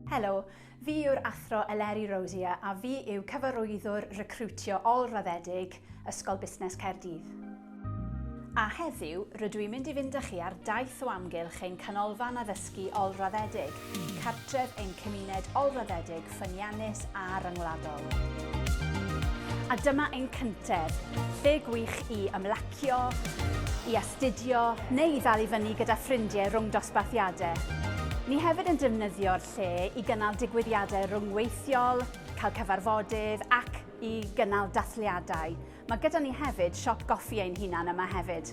Helo, fi yw'r Athro Eleri Rosier a fi yw Cyfarwyddwr Recriwtio Ôl-raddedig Ysgol Busnes Caerdydd. A heddiw, rydw i'n mynd i fynd â chi ar daith o amgylch ein Canolfan Addysgu Ôl-raddedig, cartref ein cymuned ôl-raddedig ffyniannus a ryngwladol. A dyma ein cyntedd, lle gwych i ymlacio, i astudio neu i ddal i fyny gyda ffrindiau rhwng dosbarthiadau. Ni hefyd yn defnyddio'r lle i gynnal digwyddiadau rhyngweithiol, cael cyfarfodydd ac i gynnal dathliadau. Mae gyda ni hefyd siop goffi ein hunan yma hefyd.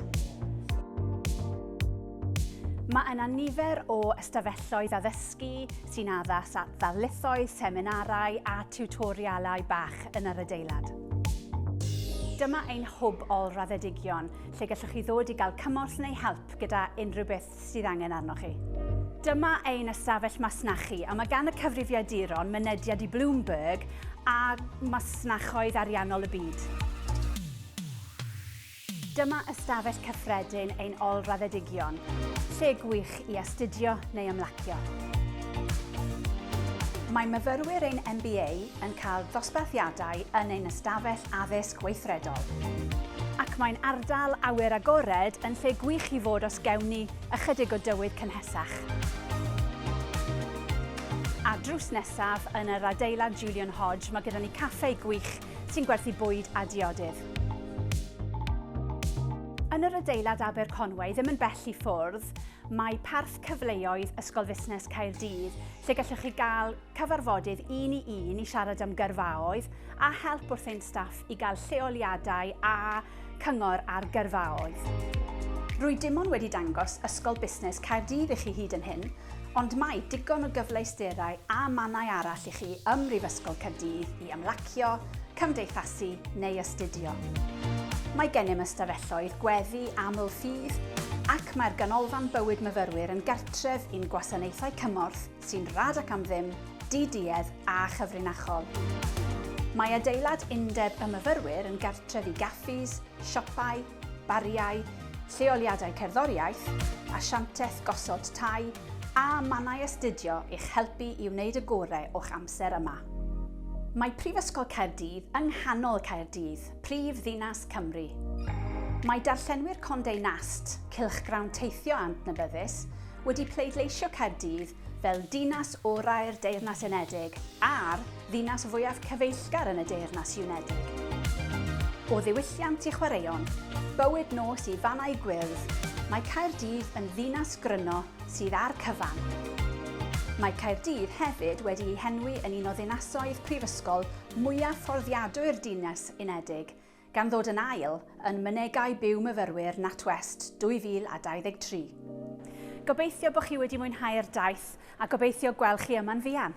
Mae yna nifer o ystafelloedd addysgu sy'n addas at ddarlithoedd, seminarau a tiwtorialau bach yn yr adeilad. Dyma ein hwb ôl-raddedigion, lle gallwch chi ddod i gael cymorth neu help gyda unrhyw beth sydd angen arnoch chi. Dyma ein ystafell masnachu a mae gan y cyfrifiaduron mynediad i Bloomberg a masnachoedd ariannol y byd. Dyma ystafell cyffredin ein ôl-raddedigion, lle gwych i astudio neu ymlacio. Mae myfyrwyr ein MBA yn cael dosbarthiadau yn ein ystafell addysg weithredol. Ac mae'n ardal awyr agored yn lle gwych i fod os gewn ni ychydig o dywydd cynhesach. A drws nesaf, yn yr adeilad Julian Hodge, mae gyda ni caffe gwych sy'n gwerthu bwyd a diodydd. Yn yr adeilad Aberconwy, ddim yn bell i ffwrdd, mae Parth Cyfleoedd Ysgol Fusnes Caerdydd, lle gallwch chi gael cyfarfodydd un i un i siarad am gyrfaoedd a help wrth ein staff i gael lleoliadau a cyngor ar gyrfaoedd. Rwy dim ond wedi dangos Ysgol Busnes Caerdydd i chi hyd yn hyn, ond mae digon o gyfleusterau a mannau arall i chi ym Mhrifysgol Caerdydd i ymlacio, cymdeithasu neu astudio. Mae gennym ystafelloedd gweddi aml ffydd ac mae'r Ganolfan Bywyd Myfyrwyr yn gartref i'n gwasanaethau cymorth sy'n rad ac am ddim, di-duedd a chyfrinachol. Mae adeilad Undeb y Myfyrwyr yn gartref i gaffis, siopau, bariau, lleoliadau cerddoriaeth, asianteth gosod tai a mannau astudio i'ch helpu i wneud y gorau o'ch amser yma. Mae Prifysgol Caerdydd yng nghanol Caerdydd, prif ddinas Cymru. Mae darllenwyr Condé Nast, cylchgrawn teithio adnabyddus, wedi pleidleisio Caerdydd fel Dinas Orau'r Deyrnas Unedig a'r ddinas fwyaf cyfeillgar yn y Deyrnas Unedig. O ddiwylliant i chwaraeon, bywyd nos i fannau gwyrdd, mae Caerdydd yn ddinas gryno sydd â'r cyfan. Mae Caerdydd hefyd wedi ei henwi yn un o ddinasoedd prifysgol mwyaf fforddiadwy'r Dinas Unedig, gan ddod yn ail yn Mynegai Byw Myfyrwyr NatWest 2023. Gobeithio bod chi wedi mwynhau'r daith a gobeithio gweld chi yma'n fuan!